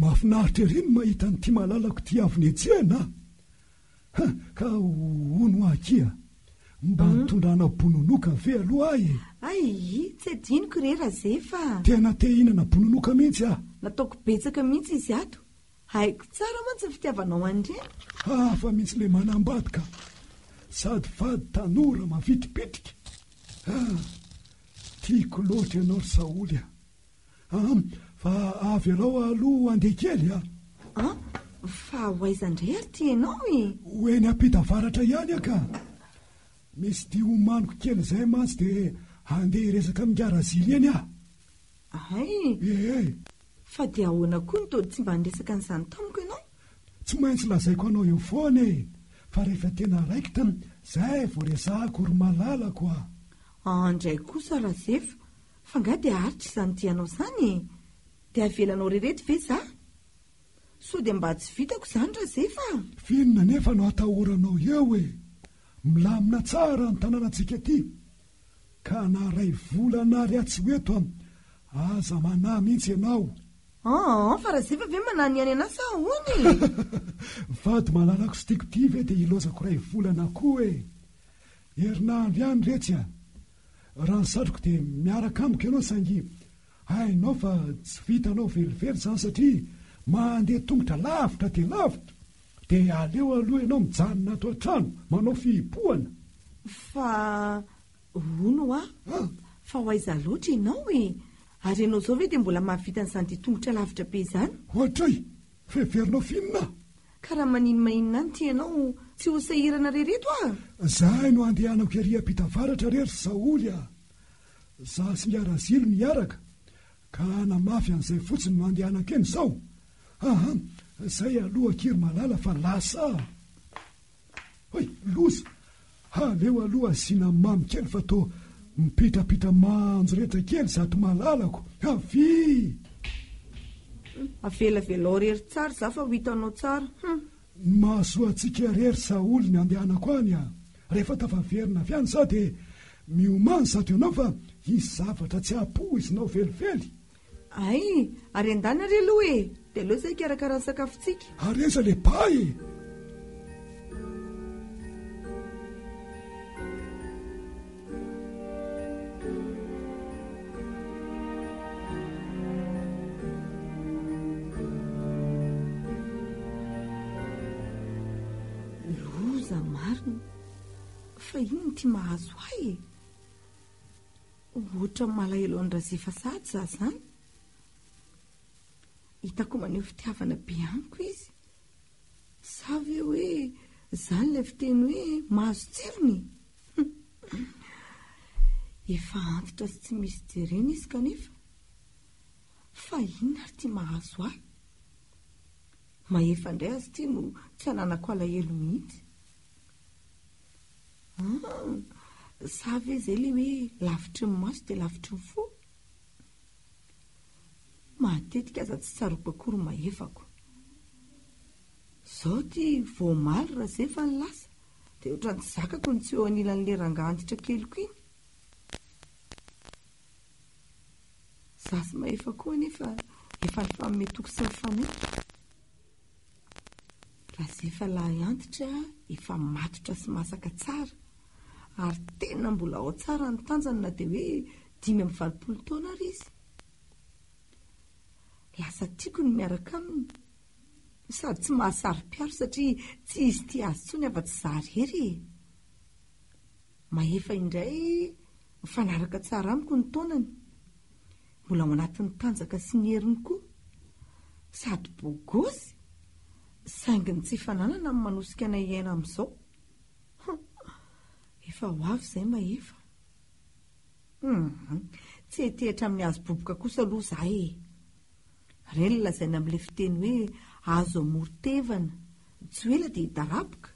Mahafinaritra ery ny mahita an'ity malalako ity avy netsehana a. Ka hono hoa akia, mba hmm? nitondranao bononoka ve aloha ahy e? Ay, tsy adinoko re Razefa. Tena te hinana bononoka mihitsy aho. Nataoko betsaka mihitsy izy ato, Haiko tsara mantsy ny fitiavanao an'ireny. Hafa mihitsy le manambady ka. Sady vady tanora mavitripitrika. Ah, tiako loatra ianao ry Saholy a. Ah, fa avelao aloha handeha kely a. Ah, fa ho aiza indray ary ity ianao e? Ho eny ampita avaratra ihany aho ka. Misy dia homaniko kely izay mantsy dia handeha hiresaka amin'i Ngara Zily eny aho. Hay! Ee! Fa dia ahoana koa no toa tsy mba niresaka an'izany tamiko ianao? Tsy maintsy lazaiko anao eo foana e! Fa rehefa tena raikitra, izay vao resahako ry malalako a! An indray kosa Razefa, fa nga dia aritra izany dianao izany e! Dia avelanao re reto ve za? Sao dia mba tsy vitako izany Razefa a! F'inona anefa no atahoranao eo e! Milamina tsara ny tanànantsika aty, ka na ray volana ary atsy ho eto aza manahy mihitsy ianao. An, fa Razeva ve manahy ny any anà sa ahoana e? Vady malalako sy tiako ity ve dia ilaozako ray volana koa e? Herinandro ihany re tsy a! Raha ny satriko dia miaraka amiko ianao saingy hainao fa tsy vitanao velively izany satria mandeha tongotra lavitra dia lavitra. Dia aleo aloha ianao mijanona ato an-trano manao fihibohana. Fa hono hoa, fa ho aiza loatra ianao e? Ary ianao izao ve dia mbola mahavita an'izany ditongotra lavitra be izany? Ohatray! Fa heverinao f'inona aho? Ka raha maninmainina any ity ianao, tsy ho sahirana re reto ah! Zahay no handehanako ery ampita avaratra re ry Saholy ah! Za sy ny Harazilo miaraka, ka hanamafy an'izay fotsiny no handehanako eny izao, Aa zay aloha akia ry malala fa lasa a! Hay loza! Aleo aloha asiana mamy kely fa toa mipitrapitra manjo rehetra kely zato malalako! Avia! Avelavelao rery tsara za fa ho hitanao tsara! Hum! Mahasoa antsika rery saholy ny andehanako any a! Rehefa tafaverina avy any za dia miomany zato ianao fa hisy zavatra tsy hahapoizinao velively! Ay! Ary endana re aloha e! Dia aleo izay hikarakara ny sakafontsika. Ary aiza le ba e! Loza marina! Fa inona ity mahazo ahy e! Ohatran'ny malahelo an'i Razefa sahady za zany. Hitako maneho fitiavana be amiko izy. Sa ve hoe zany ilay fiteny hoe mahazo tsirony? Efa antitra sy tsy misy jerena izy kanefa. Fa inona ary ity mahazo ahy? Mahefa indray aza ity no tsy ananako alahelo mihitsy. Ah! Sa ve izay ilay hoe lavitry ny maso dia lavitry ny fo? Matetika aza tsy tsaroako akory mahefako. Izao ity vao omaly raha izay efa ny lasa dia ohatran'ny tsy zakako ny tsy eo anilan'ilay rangahy antitra keliko iny. Za sy Mahefa koa anefa efa nifanome toky sy mifanaiky. Raha izay fa lahy antitra efa matotra sy masaka tsara ary tena mbola ao tsara ny tanjany na dia hoe dimy amby valopolo taona ary izy. Lasa tiako ny miaraka aminy no sady tsy mahasaro-piaro satria tsy hisy tia azy intsony afa-tsy izaho irery e! Mahefa indray mifanaraka tsara amiko ny taonany. Mbola ao anatin'ny tanjaka sy ny heriny koa sady bogosy saingy ny tsy fananana no manosika anay hiaina amin'izao. Hum, efa ho avy izay Mahefa. Hum, tsy hetehitra amin'ny hazo boboka kosa aloha izahay e. Re ny lazaina amin'ilay fiteny hoe hazo amoron-tevana, tsy ho ela dia hidaraboka.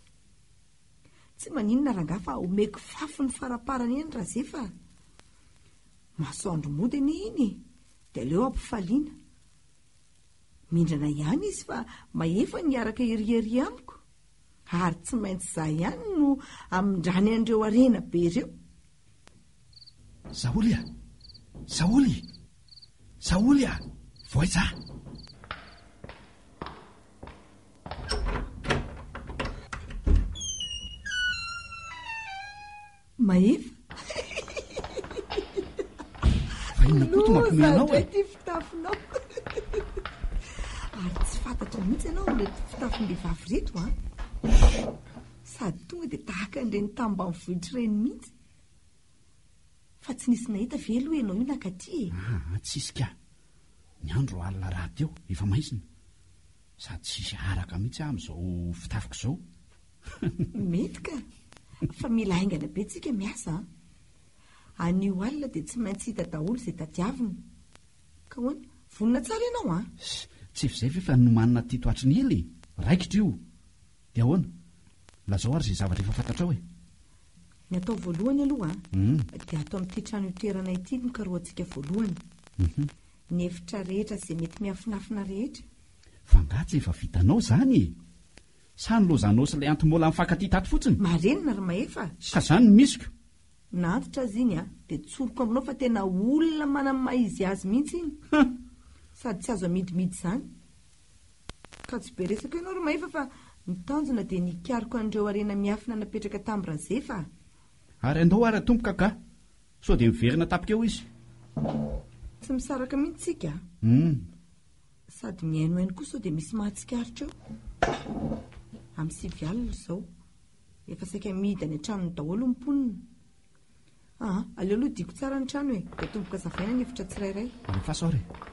Tsy maninona rangahy fa omeko fafy ny faraparany eny Razefa a. Masoandro mody anie iny e, dia aleo ampifaliana. Mindrana ihany izy fa mahefa ny hiaraka ery ery amiko, ary tsy maintsy izaho ihany no hamindrany an'ireo harena be ireo. Zaoly a! Zaoly! Zaoly a! Voaiza! Mahefa. Fa inona koa ity mampiomehy anao e? Loza ity fitafinao. Ary tsy fantatrao mihitsy ianao ireto fitafin'behivavy ireto an. Sady tonga dia tahaka an'ireny tany ambanivohitra ireny mihitsy. Fa tsy nisy nahita ve aloha ianao io nakaty e? Ah, ah tsisy ka. Ny andro alina rahateo, efa maizina. Sady tsisy araka mihitsy aho amin'izao fitafiko izao. Mety ka, fa mila haingana be tsika miasa an! Anio alina dia tsy maintsy hita daholo izay tadiavina. Ka hoana? Vonona tsara ianao an! Ssy! Tsy efa izay ve fa nomanina tito hatry ny ela e! Raikitra io! Dia ahoana? Lazao ary izay zavatra efa fantatrao e! Ny atao voalohany aloha dia ato amin'ity trano itoerana ity no karohantsika voalohany. Ny efitra rehetra izay mety miafinafina rehetra. F'angaha tsy efa vitanao izany e! Sa ny lozanao sy ilay anti-mola nifankatia tato fotsiny? Marenina ry Mahefa a! Ka zany ny misiko! Na antitra aza iny a! Dia tsoriko aminao fa tena olona manam maha izy azy mihitsy iny! Huh! Sady tsy azo amidimidy izany! Ka tsy be resaka ianao ry Mahefa fa ny tanjona dia ny hikaroka an'ireo harena miafina napetraka tamin'i Razefa a! Ary andao ary atomboka ka! Ka sao dia miverina tapika eo izy! Tsy misaraka mihitsy tsika a! Humm! Sady mihainohaino koa sao dia misy mahatsikaritra eo. Amin'ny sivy alina izao. Efa saika mihidy any an-tranony daholo ny mponina. Ah, aleo aloha diako tsara ny trano e, dia atomboka azavaina ny efitra tsirairay. Any am-faso ary e.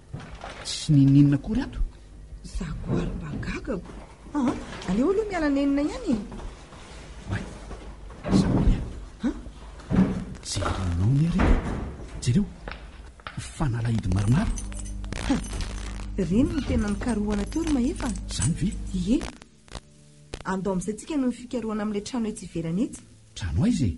Tsy nininona akory ato. Za koa ary mba gagako. Ah, aleo aloha miala nenina ihany e. May, Sabolia. Ha? Jerenao ny ary. Jereo, fanalahidy maromaro. Ha, reny ny tena nikarohana teo ry Mahefa. Zany ve? Ie. Andao amin'izay tsika noho ny fikarohana amin'ilay trano etsy ivelany etsy. Trano aiza e?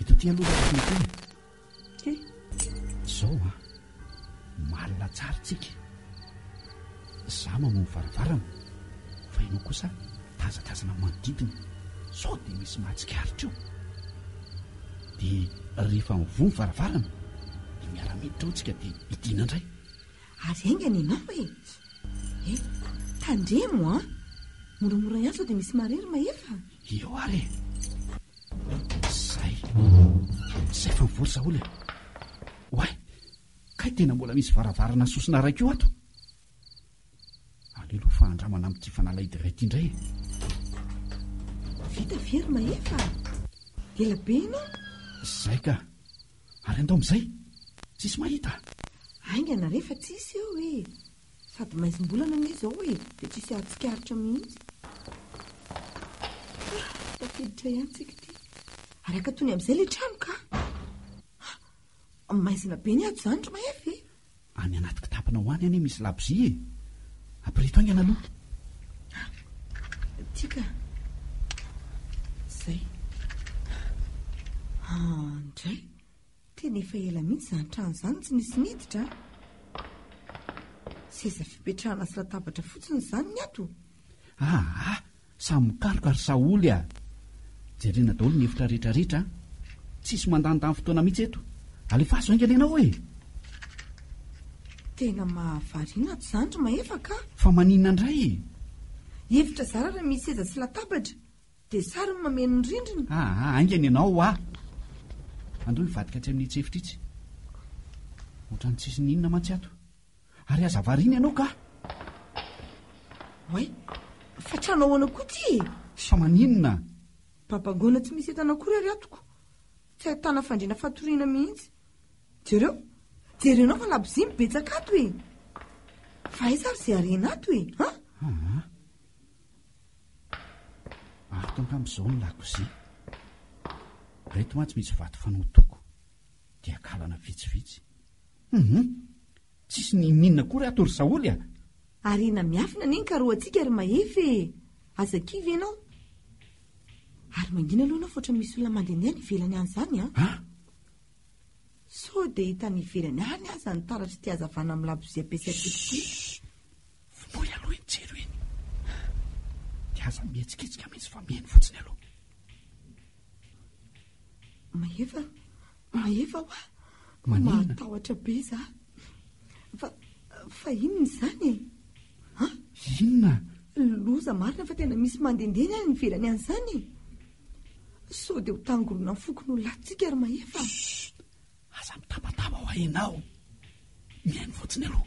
Eto aty aloha ilay fenêtre e. He, izao an. Malina tsara isika. Izaho mamoha ny varavarana, fa ianao kosa tazatazana ny manodidina, sao dia misy mahatsikaritra eo. Dia rehefa mivoha ny varavarana, dia miara-miditra ao isika dia hidiana indray. Ary haingana ianao e. He, tandremo an. Moramora ihany sao dia misy marery mahefa. Eo ary e. Zay. Zay vao vory Saholy a. Oay, kay tena mbola misy varavarana sosona iray koa ato. Aleloa fa andramana amin'ity fanalahidy iray ity indray e. Vita ve ry Mahefa? Ela be ianao. Zay ka. Ary andao amin'izay. Tsisy mahita. Haingana re fa tsisy eo e. Sady maizimbolana anie izao e, dia tsisy ahatsikaritra mihitsy. Ah, tafiditra ihany tsika ity. Ary akatony amin'izay ilay trano ka. Ah, maizina be ny ato izany ry Mahefa e. Any anaty kitapona ho any anie misy labozia e. Ampirito haingana aloha. Ah, tika. Zay. Ah, ndray. Tena efa ela mihitsy izany trano izany tsy nisy niditra a! Seza fipetrahana sy latabatra fotsiny izany ny ato. Aa! Samy mikaroka ry Saholy a! Jerena daholo ny efitra rehetra rehetra a! Tsisy mandanindany fotoana mihitsy eto. Alefaso haingana ianao e! Tena mahavariana ato izany ry Mahefa ka! Fa maninona indray e? Efitra zara raha misy seza sy latabatra. Dia sary no mameno ny rindrina. Ah, ah, haingana ianao hoa! Andao hivadika atsy amin'itsy efitra itsy. Ohatran'ny tsisy ny inona mantsy ato. Ary aza variana ianao kah! Oay, fa trano ahoana koa ity e? Sao maninona? Babangoana tsy misy entana akory ary atoko. Tsy ahitana fandriana fatoriana mihitsy. Jereo, jerenao fa labozia mibetsaka ato e! Fa aiza ary izay harena ato e? An? Ah, ah. Ato angamba izao ny lakozia. Ireto mantsy misy vato fanotoko, dia kalana vitsivitsy. Humm! Tsisy ninininina akory ato ry Saholy a! Harena miafina anie ny karohantsika ry Mahefa e! Aza kivy ianao. Ary mangina aloha ianao fa ohatran'ny misy olona mandehandeha any ivelany any izany an! Ah! Sao dia hita any ivelany any aza ny taratr'ity hazavana amin'ny labozia ampiasaiko ity. Vonoy aloha iny jiro iny. Dia aza mihetsiketsika mihitsy fa mihaino fotsiny aloha. Mahefa, mahefa hoa. Maninona? Mahatahotra be za. Fa, fa inona izany e? Ha? Inona? Loza marina fa tena misy mandehandeha ny any ivelany any izany e. Sao dia ho tangoronan'ny fokon'olona antsika ry Mahefa. Chut! Aza mitabataba ho hainao mihaino fotsiny aloha.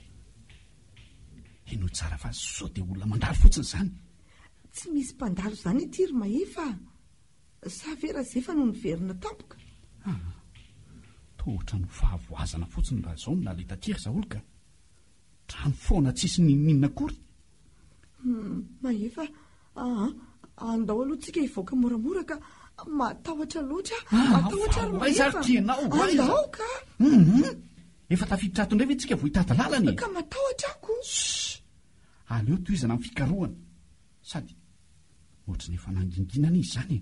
Henoy tsara fa sao dia olona mandalo fotsiny izany. Tsy misy mpandalo izany ity ry Mahefa a! Sa ve Razefa no niverina tampoka? Ah, toa ohatran'ny ho fahavoazana fotsiny raha izao no naleha taty ry Zaholy ka! Drano foana tsisy n'inon'inona akory. Hum, Mahefa, Aa, andao aloha tsika hivoaka moramora ka, matahotra loatra ah, matahotra ary mahefa, andao ka. Hum, efa tafiditra ato indray ve tsika vao hitady lalana e? Ka matahotra ako. Aleo tohizana amin'ny fikarohana. Sady ohatry ny efa nanginginana izy izany e.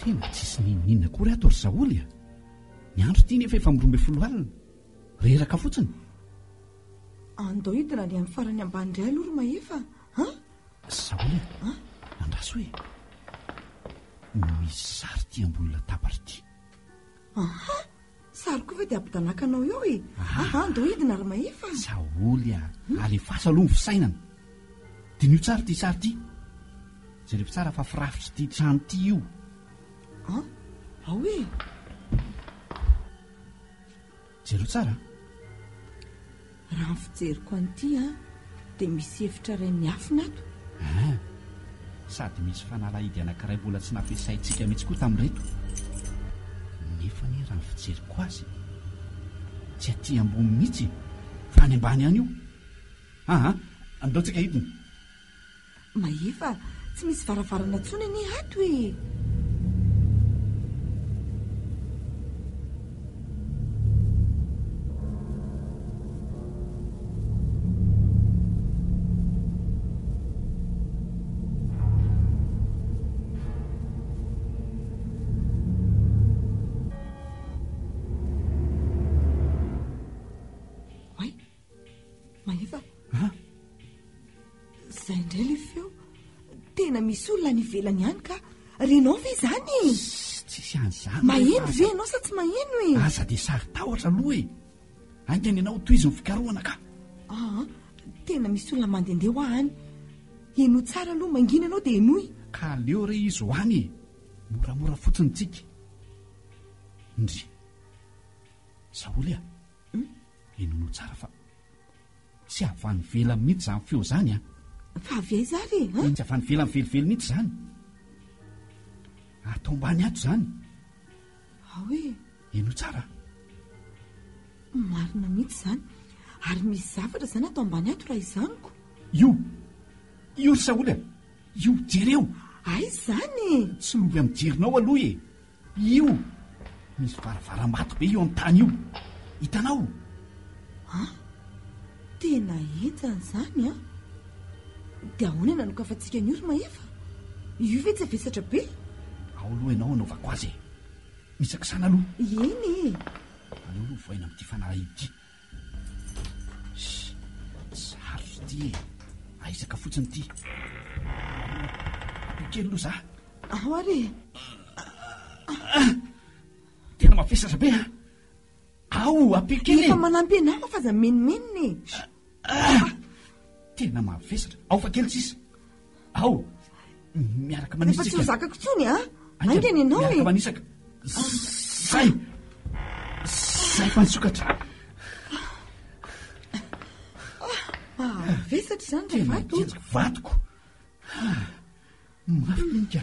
Tena tsisy n'inon'inona akory ato ry Saholy a! Ny andro ity nefa efa amin'ny roa ambin'ny folo alina. Reraka fotsiny. Andao hidina any amin'ny farany ambany indray aloha ry Mahefa a! Saholy a! Andraso e! Misy sary ity ambony latabatra ity. Aha! Sary koa ve dia ampidanakanao eo e? Aha, ndao hidina ry Mahefa. Saholy a! Alefaso aloha ny fisainana. Diniho tsara ity sary ity. Jerevo tsara fa firafitr'ity trano ity io. An? Ao e! Jereo tsara an! Raha ny fijeriko an'ity an, dia misy efitra iray miafina ato. An! Sady misy fanalahidy anankiray mbola tsy nampiasaintsika mihitsy koa tamin'ireto. Nefa anie raha ny fijeriko azy, tsy aty ambony mihitsy e, fa any ambany any io. An! Aleontsika hidina. Mahefa, tsy misy varavarana tsony anie ato e! Mahefa a! Izay indray ilay feo. Tena misy olona any ivelany ihany ka. Renao ve izany e? Tsisy an'izany. Maheno ve ianao sa tsy maheno e? Aza dia saro-tahotra aloha e. Haingana ianao ho tohizo ny fikarohana ka. Aa, tena misy olona mandehandeha ho ahy any. Henoy tsara aloha, mangina ianao dia henoy. Ka aleo re izy ho any e. Moramora fotsiny ny tsiky. Ndry. Saholy a! Henoinao tsara fa tsy avy any ivelany mihitsy izany feo izany an! Fa avy aiza ary e? Tsy avy any ivelany velively mihitsy izany. Ato ambany ato izany. Ao e! Henoy tsara. Marina mihitsy izany. Ary misy zavatra izany ato ambany ato raha izaniko. Io! Io ry Saoly a! Io, jereo! Aiza izany? Tsy lovy amin'ny jerinao aloha e! Io misy varavaram-bato be io amin'ny tany io. Hitanao? Ha? Tena entana izany an! Dia ahoana no hanokafantsika an'io ry Mahefa? Io ve tsy avesatra be? Ao aloha ianao hanaovako azy e! Misakisana aloha. Eny e! Aleo aloha vohaina amin'ity fanalahidy ity. Sarotra ity e. Ahisaka fotsiny ity. Ampio kely aloha za. Ao ary e. Tena mavesatra be a. Ao, ampio kely. Efa manampy anao aho fa aza menomenona e. Tena mavesatra. Ao fa kely tsisa. Ao, miaraka manisaka. Efa tsy ho zakako intsony a. Ah. Aingana ianao e. Miaraka manisaka. Zay. Zay fa nisokatra. Mahavesatra izany ry vato. Vatoko. Ah. Mafy minika.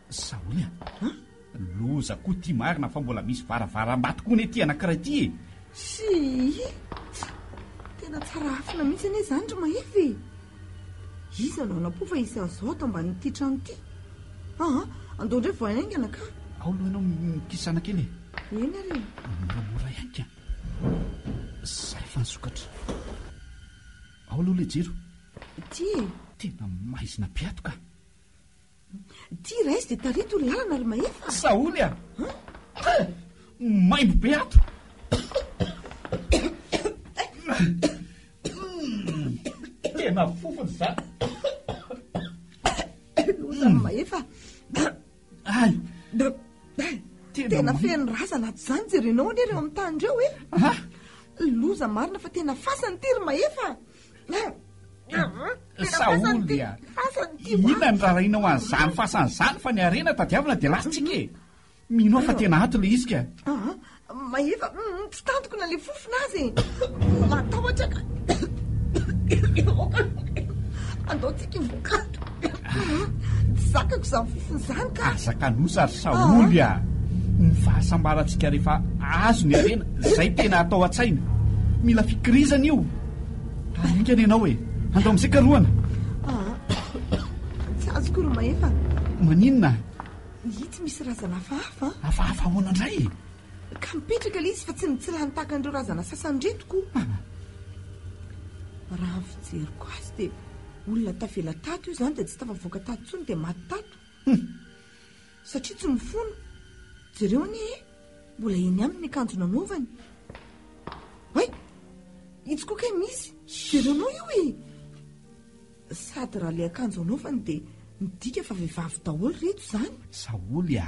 Sahoy a! An! Loza koa ity marina fa mbola misy varavaram-bato koa anie ty anankiray ity e! Sii! Tena tsara afina mihitsy anie izany ry Mahefa e! Iza no hanampo fa hisy azo ato ambanin'ity trano ity? Aa! Andao indray vao haingana ka! Ao aloha ianao mikisana kely e! Eny ary e! Moramora ihany ka! Izay fa nisokatra! Ao aloha ilay jiro! Ity e! Tena maizina be ato ka! Ty rais de tarito lalana ry mahefa. Sahony a! Maimbo be ato. Tena fofona izany. Loza ry mahefa. Ay. Tena feno razana ato izany jerenao anie ireo amin'ny tany ireo e. Loza marina fa tena fasana ity ry mahefa. Saoly a! Inona ny raharahianao an'izany fasana izany fa ny harena tadiavina dia lasantsika e! Mino aho fa tena ato ilay izy ka! Mahefa, tsy tantiko na ilay fofona aza e! Matahotra ka! Andao tsika hivoka ato! Aa! tsy zakako izany fofona izany ka! Aza kanosa ry Saholy a! Ny fahasambarantsika rehefa azo ny harena, izay tena atao an-tsaina. Mila fikirizana io. Haingana ianao e! Andao amin'izay karohana! Aa! tsy azoko ry Mahefa! Maninona? Itsy misy razana hafahafa an! Hafahafa ahoana indray e? Ka mipetraka ilay izy fa tsy mitsilany tahaka an'ireo razana sasany ireto koa. Raha ny fijeriko azy dia olona tavela tato io izany dia tsy tafavoaka tato intsony dia maty tato. Hum. Satria tsy mifono. Jereo anie e! Mbola eny aminy ny akanjo nanaovany. Hay! Itsy koa kay misy. Jereo anao io e! Sady raha ilay akanjo anaovany dia midika fa vehivavy daholo ireto izany. Saholy a!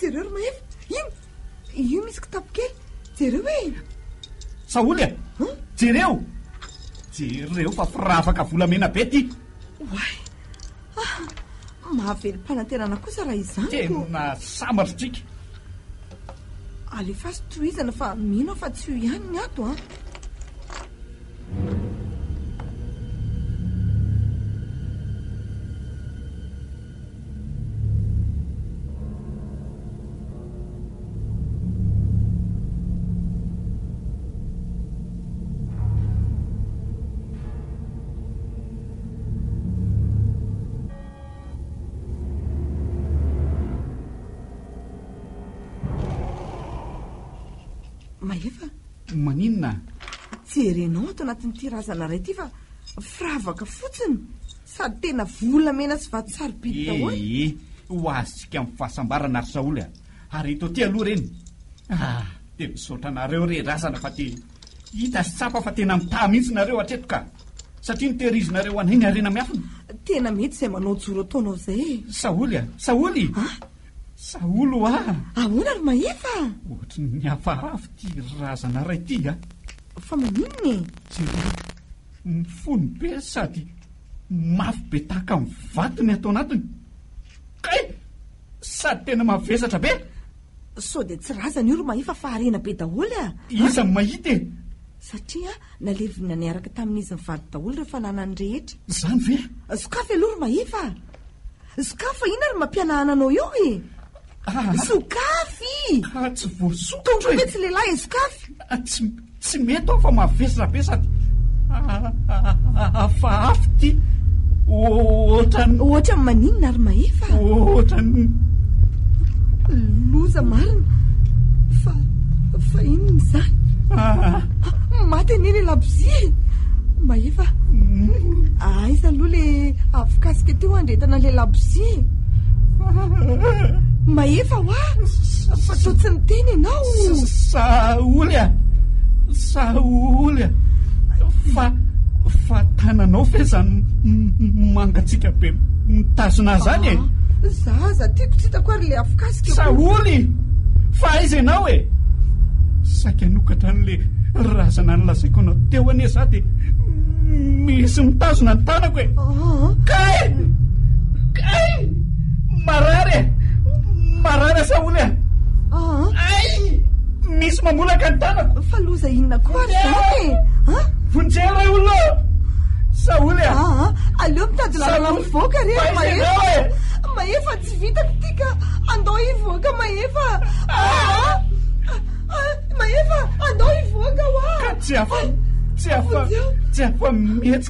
Jereo ry Mahefa, iny! Io misy kitapo kely. Jereo e! Saholy a! Jereo! Jereo fa firavaka volamena be ity! Oay! Ah, mahavelom-panantenana kosa raha izany ko! Tena sambatra tsika! Alefaso tohizana fa mino aho fa tsy io ihany ny ato an! Mahefa? Maninona? Jerenao ato anatin'ity razana iray ity fa firavaka fotsiny. Sady tena volamena sy vato sarobidy daholo. Ee, ho azontsika amin'ny fahasambarana ry Saholy a! Ary eto aty aloha ireny. Ah! dia misaotra anareo re razana fa dia hita sy tsapa fa tena mitaha mihitsy nareo hatreto ka! Satria notehirizinareo ho anay ny harena miafina. Tena mety izay manao joro ataonao izay e! Saholy a! Saholy! Ah! Saholy o ah! Ahoana ry Mahefa a! Ohatry ny hafahafa ity razana iray ity a! Fa maninona e! Jereo! Mifono be sady mafy be tahaka ny vato ny ato anatiny. Kay! Sady tena mavesatra be! Sao dia tsy razana io ry Mahefa fa harena be daholo a! Iza no mahita e? Satria nalevina niaraka tamin'izy mivady daholo ireo fananany rehetra. Izany ve? Sokafy aloha ry Mahefa a! Sokafy fa inona ary mampihanahana anao eo e? Ah! Sokafy! Ah, tsy voasokatra e! Tondroy ve tsy lehilahy e, sokafy! Ah, tsy, tsy mety aho fa mavesatra be sady hafahafa ity. Ohatran'ny... Ohatran'ny maninona ary mahefa? Ohatran'ny... Loza marina. Fa, fa inona izany? Ah! Maty anie ilay labozia e! Mahefa, mm. aiza aloha ilay avokasika teo handrentana ilay labozia e? Mahefa hoa fa toa tsy niteny ianao. Saholy a, saholy a, fa fa tananao ve izany mangatsiaka be mitazona ahy izany e? Za aza tiako tsy hitako ary le afokasika. Saholy, fa aiza ianao e? Saika hanokatra an'le razana nilazaiko anao teo anie za dia misy mitazona ny tanako. Kay! Kay! Marary e! Marary asa oly e! Ay! Misy mamolaka ny tanako! Fa loza inona koa ary izany e? Vonjeo ray olona o! Saoly a! Aleo mitady lalana mivoaka re Mahefa! Mahefa tsy vitako ity ka! Andao hivoaka Mahefa! Mahefa! Andao hivoaka hoa! Ka tsy afa... Tsy afa... Tsy afa mihetsika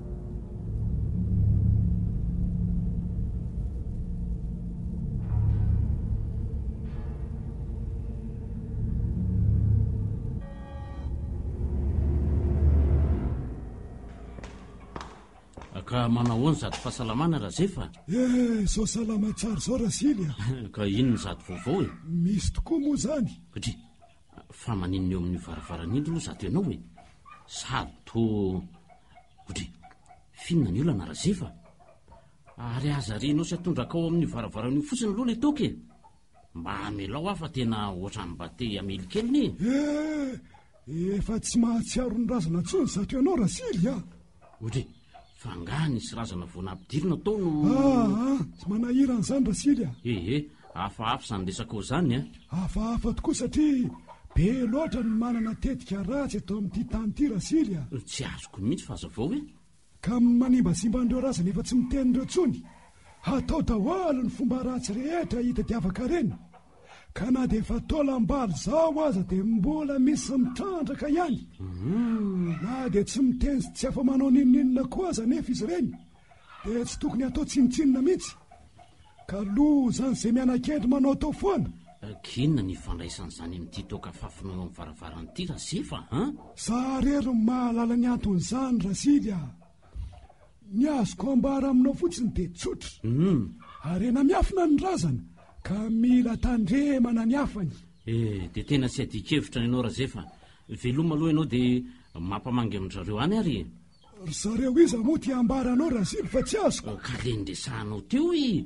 Ka manahoana zato fahasalamana razefa eh sao salama tsara zao rasily a ka inona zato vaovao e misy tokoa moa zany satria Fa maninona eo amin'ny varavaran'indry lo zato ianao e? Sary toa odry finina ny olana Razefa Ary aza arianao sy atondraka ao amin'io varavaran'io fotsiny lo le toaka e Mba amelao aho fa tena ohatran'ny mba te hamely kely ne e Efa tsy mahatsiaro ny razana intsony zato ianao Rasily a! Ory, fa angaha nisy razana vao nampidirina tao no. Ah ah, tsy manahirana izany Rasily ah. He he, hafahafa izany resakao izany an. Hafahafa tokoa satria be loatra ny manana tetika ratsy eto amin'ity tany ity Rasily ah. Tsy azoko mihitsy fa aza vao e. Ka manimbasimba an'ireo razana efa tsy miteny ireo intsony. Hatao daholo ny fomba ratsy rehetra hitadiavaka reny. ka na dia efa taolam-balo izao aza dia mbola misy mitrandraka ihany. Na dia tsy miteny sy tsy afa-manao n'inon'inona koa aza anefa izy ireny, dia tsy tokony hatao tsinontsinona mihitsy. Ka lozan'izay miana-kendry manaotao foana. Akinona ny ifandraisan'izany amin'ity toaka fafiny eo amin'ny varavarana ity, Rasily fa an! Za irery no mahalala ny anton'izany, Rasily a! Ny azoko ambara aminao fotsiny dia tsotra. Uhm. Harena miafina ny razana ka mila tandremana ny hafany. Eh, dia tena tsy adin-kevitra ianao Razefa. Veloma aloha ianao dia mampamangy amin-dry zareo any ary e. Ry zareo iza moa ity ambaranao Raziby fa tsy azoko? Ka le niresahanao teo e!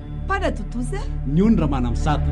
Mpanadodoza ny ony Ramanamizata.